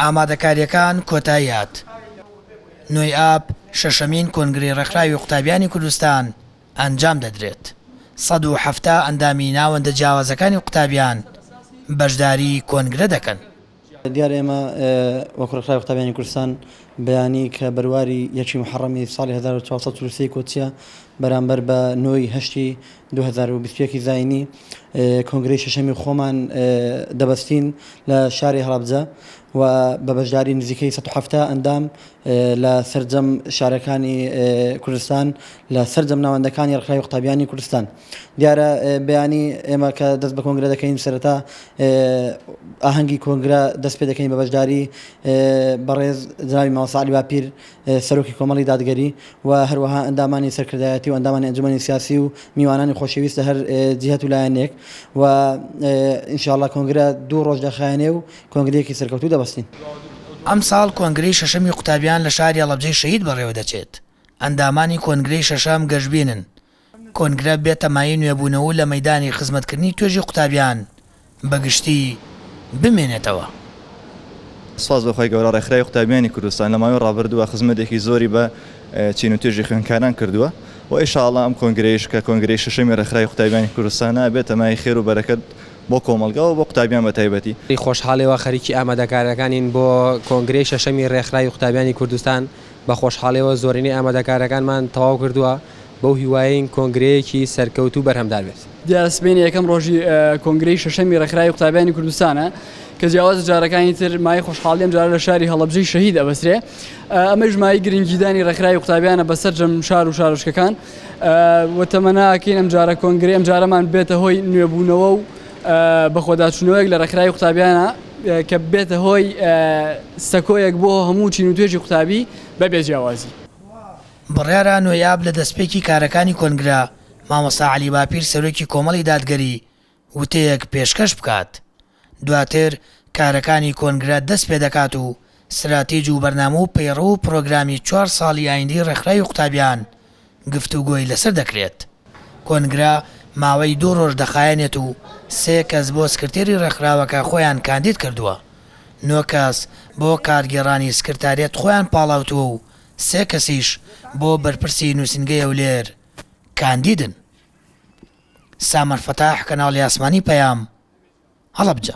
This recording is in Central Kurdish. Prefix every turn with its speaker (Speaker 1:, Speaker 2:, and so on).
Speaker 1: ئامادەکارییەکان کۆتایی هات نۆی ئاب شەشەمین کۆنگرەی ڕێکخراوی قوتابیانی کوردستان ئەنجام دەدرێت، سەد و حەفتا ئەندامی ناوەندە جیاوازەکانی قوتابیان بەشداری کۆنگرە دەکەن. دیارە ئێمە
Speaker 2: وەکو ڕێکخراوی قوتابیانی کوردستان بەیانی کە بەرواری یەکی موحەڕەمی ساڵی هەزار و چوار سەد و چل و سێ ی کۆچیە بەرامبەر بە نۆی هەشتی دوو هەزار و بیست و یەک ی زایینی کۆنگرەی شەشەمی خۆمان دەبەستین لە شاری هەڵەبجە و بە بەشداری نزیکەی سەد و حەفتا ئەندام لە سەرجەم شارەکانی کوردستان لە سەرجەم ناوەندەکانی ڕێکخراوی قوتابیانی کوردستان دیارە بەیانی ئێمە کە دەست بە کۆنگرە دەکەین سەرەتا ئاهەنگی کۆنگرە دەست پێ دەکەین بە بەشداری بەڕێز جنابی مامۆستا عەلی باپیر سەرۆکی کۆمەڵی دادگەری و هەروەها ئەندامانی سەرکردایەتی و ئەندامانی ئەنجومەنی سیاسی و میوانانی خۆشەویست لە هەر جیهەت و لایەنێک و ئینشاءاللە کۆنگرە دوو ڕۆژ دەخایەنێ و کۆنگرەیەکی سەرکەوتوو دەبەستین. ئەمساڵ
Speaker 1: کۆنگرەی شەشەمی قوتابیان لە شاری هەڵەبجەی شەهید بەڕێوەدەچێت، ئەندامانی کۆنگرەی شەشەم گەشبینن کۆنگرە بێتە مایەی نوێبوونەوەو لە مەیدانی خزمەتکردنی توێژی قوتابیان بەگشتی بمێنێتەوە.
Speaker 3: سوپاس بۆ خوای گەورە ڕێکخراوی قوتابیانی کوردستان لە ماوەی ڕابردووە خزمەتێکی زۆری بە چین و توێژی خوێندکاران کردووە و ئیشاڵا ئەم کۆنگرەیش کە کۆنگرەی شەشەمی ڕێکخراوی قوتابیانی کوردستانە ئەبێتە مایەی خێر و بەرەکەت بۆ کۆمەڵگا و بۆ قوتابیان بە تایبەتی. بە خۆشحاڵیەوە خەریکی
Speaker 4: ئامادەکاریەکانین بۆ کۆنگرەی شەشەمی ڕێکخراوی قوتابیانی کوردستان، بە خۆشحاڵیەوە زۆرینەی ئامادەکاریەکانمان تەواو کردووە، بەو هیوایەین کۆنگرەیەکی سەرکەوتوو بەرهەمدار بێت. دیارە سبەینێ یەکەم
Speaker 5: ڕۆژی کۆنگرەی شەشەمی ڕێکخراوی قوتابیانی کوردستانە کە جیاواز لە جارەکانی تر مایەی خۆشحاڵی ئەمجارە لە شاری هەڵەبجەی شەهید ئەبەسرێ ئەمەیش مایەی گرنگیدانی ڕێکخراوی قوتابیانە بە سەرجەم شار و شارۆچکەکان و تەمەناکەین ئەمجارە کۆنگرەی ئەمجارەمان بێتە هۆی نوێبوونەوە و بەخۆداچوونەوەیەک لە ڕێکخراوی قوتابیانە کە بێتە هۆی سەکۆیەک بۆ هەموو چین و توێژی قوتابی بەبێ جیاوازی. بڕیارە
Speaker 1: نۆیاب لە دەستپێکی کارەکانی کۆنگرە، مامۆستا عەلی باپیر سەرۆکی کۆمەڵی دادگەری وتەیەک پێشکەش بکات. دواتر کارەکانی کۆنگرە دەست پێدەکات و ستراتیج و بەرنامە و پەیڕەو و پرۆگرامی چوار ساڵی ئایندەی ڕێکخراوی قوتابیان گفتوگۆی لەسەر دەکرێت. کۆنگرە ماوەی دوو ڕۆژ دەخایەنێت و سێ کەس بۆ سکرتێری ڕێکخراوەکە خۆیان کاندید کردووە. نۆ کەس بۆ کارگێڕانی سکرتاریەت خۆیان پاڵاوتووە و سێ کەسیش بۆ بەرپرسی نووسینگەی هەولێر کاندیدن، سامەر فەتاح، کەناڵی ئاسمانی پەیام، هەڵەبجە.